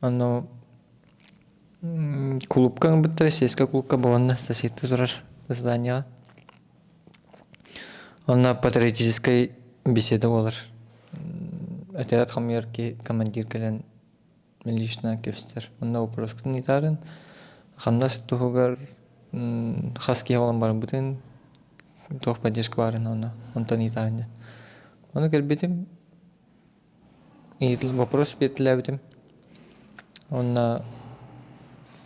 Ону кулуупка гыммыттара сельскай кулуупка буоланна сосиска турар зданиеҕа онно патриотическай беседа буолар отряд хамыйар киһи командир кэлэн лично кэбистэр онно боппуруоскутун ыйытаарын хамнас туһугар хас киһи буолан барбытын туох поддержка баарын онно онтон ыйытаарын диэн ону кэлбитим Ыйытыллыбыт вопрос бэртэлээбитим уонна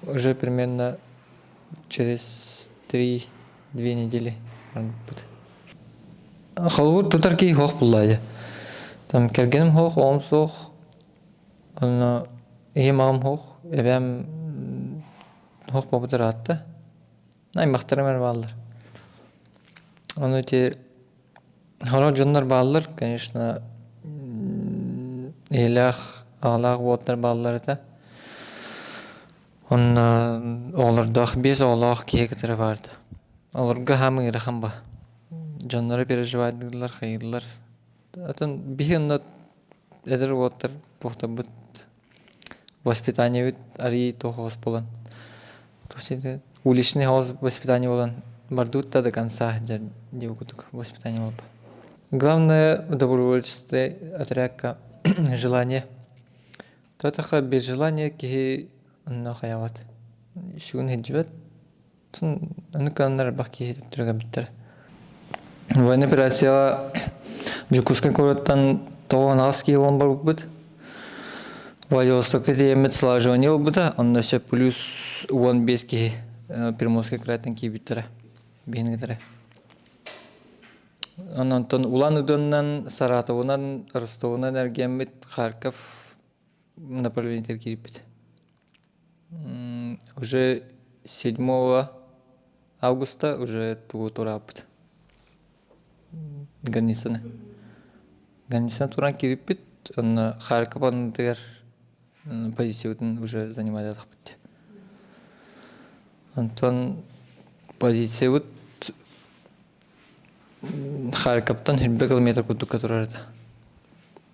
уже примерно через три-две недели гынныппыт холобур тутар киһи суох буоллаа дии там кэргэним суох оҕом суох уонна ийэм аҕам суох эбээм суох буолбут ыраатта аймахтарым эрэ бааллар ону ити Ону дьоннор бааллар, конечно, ийэлээх, аҕалаах уотунар бааллар этэ. Онно оҕолордоох, биэс оҕолоох киһи кытары баарда. Олорго хаһаам ыарахан баа. Дьонноро переживайдыыллар, хайыыллар. Атын биһи онно эдэр уоттар тохтобут воспитаниебыт арыйыы туох оҕус буолан тугу ситэ уличный воспитание буолан бардыбыт да до конца сылдьар дии курдук воспитание буолбут главное добровольческай отрядка желание то атаха без желания киһи онно хайаҕыт сүгүн иһирдьибэт Аны кыаннар элбэх киһи түргэбиттэр. Военный операцияга Дьокуускай куораттан тоҕуон аҕыс киһи буолан барбыт. Владивостокка тиийэммит слаживание ылбыта, онно сөп плюс уон биэс киһи Пермосскай кырааттан киирбиттэрэ, биһингитэрэ. Онтон Улан Удуннан, Саратовунан, Ростовунан эргиэммит Харьков направлениетигэр киирбит. уже седьмого августа уже туура турааппыт границаны границаны туран кириппит онно харькопанытыгар позициябытын уже занимать атахпыт онтон позициябыт харьковтан сирбэ километр курдук турар это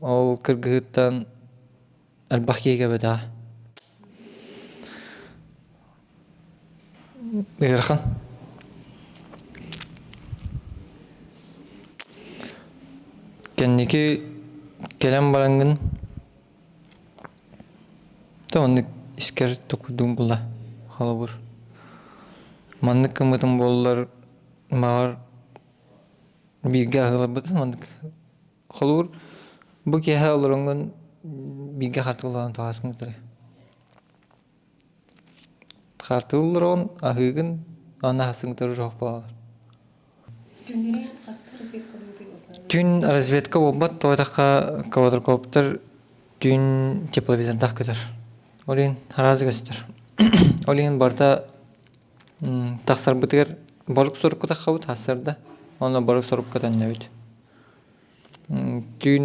Ол кыргыһыыттан элбэх киһи кэлбитэ ыарахан кэнники кэлэн бараҥҥын то оннук искэр тукуйдуҥ була холобур маннык гыммытым буоллар маҕар бииргэ аһыыларбытын маннык Холугур бу киэһэ олороҥҥун бииргэ хартыына олорон табаарыскын кытары. Хартыына олорон аһыыгын аны аһастыҥ кытары жоох буолалар. Түн разведка буолбат тоойдахха квадрокоптер түүн тепловизордаах көтөр. Ол иһин араазы көстөр. Ол иһин барыта Тахсарбытыгар борук сорукка таххабыт тахсарда уонна борук сорукка төннөбүт түүн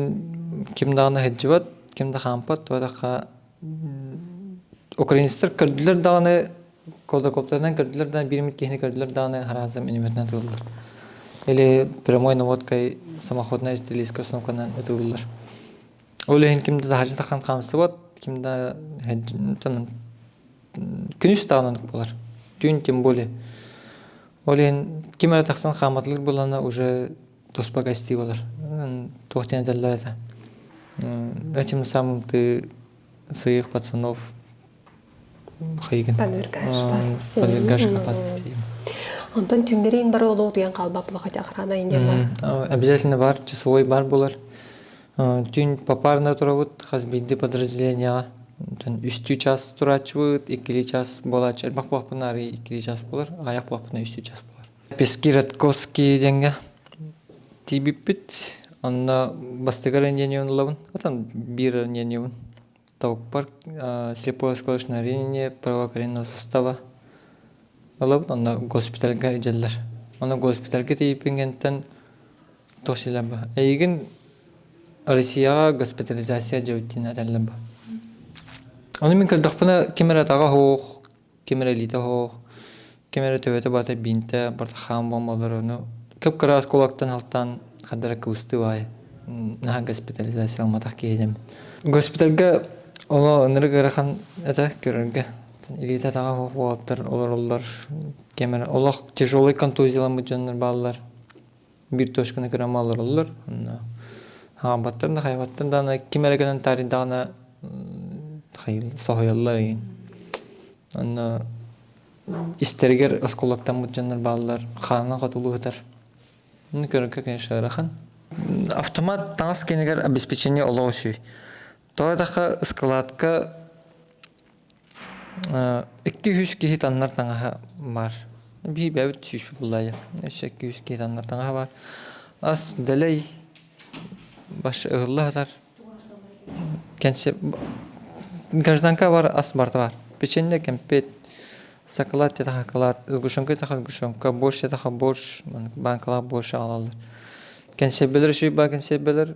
ким даҕаны сылдьыбат ким да хаампат атахха украинецтар көрдүлэр даҕаны кулдакоптарынан көрдүлэр даҕаны биир эмит киһини көрдүлэр даҕаны араасым inimернэн ытыллар или прямой наводкой самоходная стрелецкая установканан ытыллар ол иһин ким да таһырдьа таххан хаамсыбат ким да күнүс даҕаны оннук буолар түүн тем более ол иһин ким эрэ тахсан хааматылыыр буоллана уже туспа гостей болар туох диэн этэллэр этэ этим самымтыы сыйых пацанов хыйгын полергашка пасысиим онтон түүннэрин бары олоо туян калбап лахатя охрана индиана обязательно бар часовой бар болар Түүн попарнай турабыт хас биирдии подразделениеҕа үстүү чаас турааччыбыт иккилии чаас буолааччы элбэх буолаппына арыый иккилии чаас буолар аҕыйах буолаппына үстүү чаас буолар пески радковский диэҥҥэ тиийбиппит онно бастакы ранениены ылабын отон биир ранениебын толкуппар слепое скорочновение правое колено сустава ылабын онно госпитальга идэллэр ону госпитальга тиийбиппин кэнниттэн туох сиэлэ баа эйигин россияҕа госпитализация диэбиттиин этэллэр баа ону мин көрдөхпүнэ ким эрэ атаҕа суох ким эрэ илиитэ оһох, ким эрэ төбөтө барыта биинтэ, портахаан буомбалар ону кып-кыраас кулактан халтаан хардара кыбыстыы баай наһаа госпитализация ылматах киһи этим. Госпитальга оло ынырык ыарахан этэ көрөргө илиитэ атаҕа оһох уолаттар олороллор ким эрэ олох тяжелый контузияламмыт дьоннор бааллар бір точканы кырамы олороллор онно хаамбаттар да хайбаттар даана ким эрэ гынан таарыйдаҕына соһуйаллар иһин онно истэригэр оскуолаттаммыт дьоннор бааллар хаана хотулу сытар ну көрөргө конечно ыарахан автомат таҥас киинигэр обеспечение олох үчүгэй тоҕо этахха ыскылаатка Икки-үһүс киһи таннар таҥаһа баар. Биһиэбэбит сүүспүт булаайы өссө икки-үһүс киһи таннар таҥаһа баар. Ас дэлэй баш ыһылла сатар кэнсиэ гражданкабар ас барыта баар. Печенье, кэмпиэт, сакалаат тиэтээх акылаат, сгущенка тиэтээх сгущенка, борщ тиэтээх борщ, баанкалаах борщ аҕалаллар. Кэнсиэрбэлэр үчүгэй баар кэнсиэрбэлэр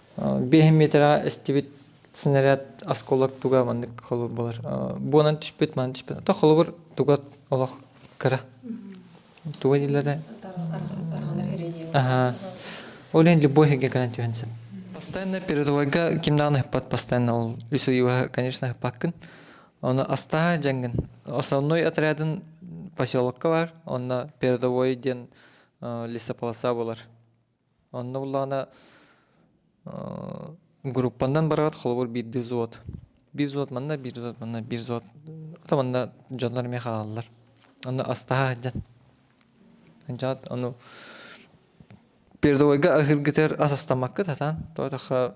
Биэс метрага истибит снаряд осколок туга маннык холур болар буонан түспүт манан түспүт то холобур туга олох кыра туга дийлерде аха ол иһин любой иһигге кынан түһэн сөп постоянно передовойга ким даҕаны ыппат постоянно ол үс ыйыба конечно ыппаккын ону астаһа жангын основной отрядын поселокка бар онно передовой диэн лесополоса болар Онно буллаҕына группаннан бараҕыт холобур биирдии взвод биир взвод манна биир взвод манна биир взвод ата манна дьоннор эмиэ хаалаллар онно астаһа сылдьан дьаат ону передовойга аһыыргытыгар ас астаммаккыт сатаан тоҕотоххо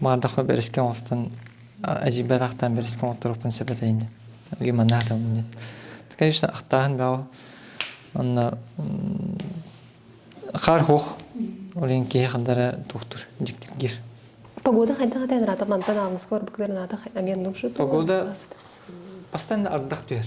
Маардаахпар бэрискэ оҥостон эдьиийбэр атахтаан бэрискэ оҥотторуохпун сөп этэ инньэ. Эһиги манна аһатабын инньэ. Конечно ахтааһын бөҕө. Онно хаар-суох ол иһин киһи ханна эрэ туохтуур дьиктик диир. Погода хайдах этэй наада мантан ааҕыска орбуктар наада эмиэ нушу. Погода бастан да ардах түһэр.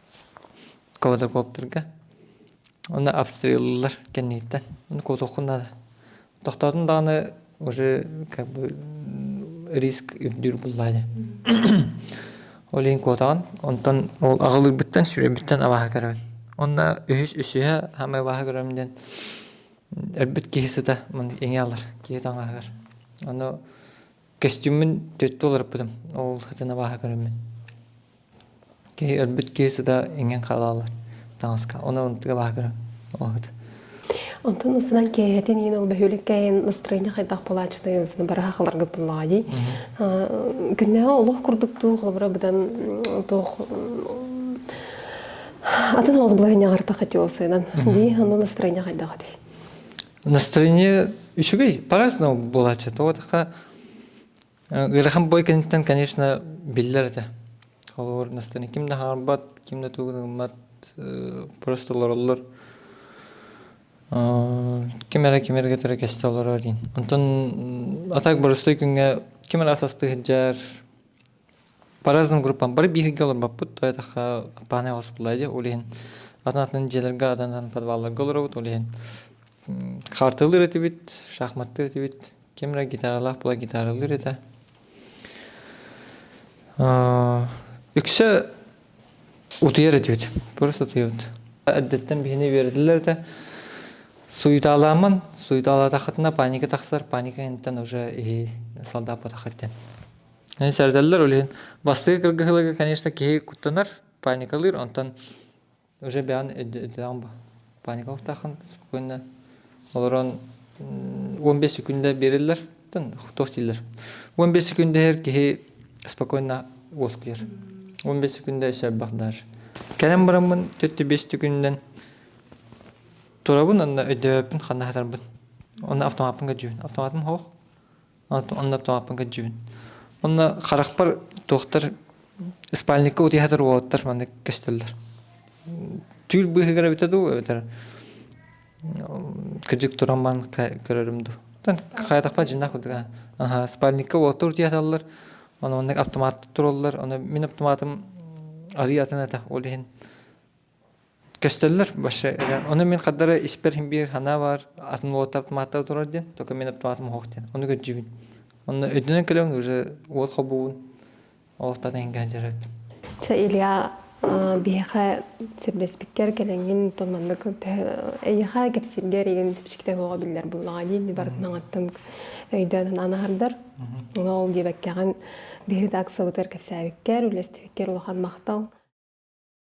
квадрокоптерга уонна обстреллылар кэнниттэн ону куотуоххун наада тохтоотун даҕаны уже как бы риск үрдүүр буоллаҕа дии ол иһин куотаҕын онтон ол аҕылыырбыттан сүрэбиттэн абааһы көрөбүн уонна үһүс үсүһэ самый абааһы көрөм диэн өлбүт киһи сыта маны иҥэ алар киһи таҥаһыгар ону Костюммун төрүттүү уларыппытым. Ол сытын абааһы көрөммүн. Киһи өлбүт киһи сыта иҥэн хаалаллар таҥаска. Ону ынтык абааһы көрөм. Ол сыта. Онтон устунан кээһэтин иин ол бөһүөлүк кээһин настроение хайдах болаачытай онсуна бара хахаларгыттыллаҕайы. Күннээҕи олох курдук туох олобура быдан туох атын оҕус былаһынньаҕарта хатиолсыынан. Дии, ону настроение хайдах этэй? Настроение үчүгэй, по-разному булааччы. Тоҕотаха ыарахан бой кэнниттэн, конечно, биллэр этэ. Холобур, настроение ким да хаарбат, ким да тугун ылмат, просто олороллор. Ким эрэ ким эрэ кэтэре кесте олорор диин. Онтон атак боростой күнгө ким эрэ асасты хыджар, По-разному группам бары бииргэ олорбоппут, то этахха Аппаанай хоспулая диэ, ол иһин атын атын дьиэлэргэ, атын атын подвалларга олоробут, ол иһин хаартылыыр этибит, шахматтыыр этибит, ким эрэ гитаралаах буолар гитаралыыр этэ. Үксэ утуйар этибит, просто утуйабыт. Эрдэттэн биһини үөрэтэллэр этэ. Суйутаалааммын, суйутаалаатаххытына паника тахсар, паника инниттэн уже иһи салдааппатаххыт диэн. Сэрдэллэр ол иһин бастакы кыргыһылыга, конечно, киһи куттанар, паникалыыр, онтон уже бэйэҕин өйдөтөҕүн бу паникалыктааххын спокойно олорон он бес секунда биэрэллэр тоҕус дииллэр он бес секунда иһэр киһи спокойно уоскуйар он бес секунда өссө элбэх дааш кэлэн бараммын төттө бес секундунан турабын онно өйдөөбөппүн ханна сатарбын онно автоматпын көрдьүбүн автоматым хоһ онно тоҥоппун кырдьыбын онно харахпар туохтар спальникка утуйа сатыыр уолаттар маннык көстөллөр түүл быыһыгар эбитэ дуу эбэтэр кырдьык туран маан көрөрүм дуу хайатахпар дьиннах курдук аха спальникка уолаттар утуйа саталлар ону маннык аптымааттар тураллар ону мин аптымаатым арыы атын этэ ол иһин көстөллөр вообще ону мин хардары испэр биир санаа баар атын уол автоматта турар диэн только мин автоматым уһуох диэн ону көрдьүбүн онно өйдөнөн кэлэҥ уже уол хобугун олохтата хингэ дьарык Ча Илья биһиэхэ сүрлэспиккэр кэлэнгин тон маннык эйиэхэ кэпсиргэр игин түпчүктэ буола биллэр буллаҕа диин барытнаҥаттан өйдөөн анаһардар ол диэбэккэҕин биһир редакциябытыгар кэпсээбиккэр үлэстибиккэр улахан махтал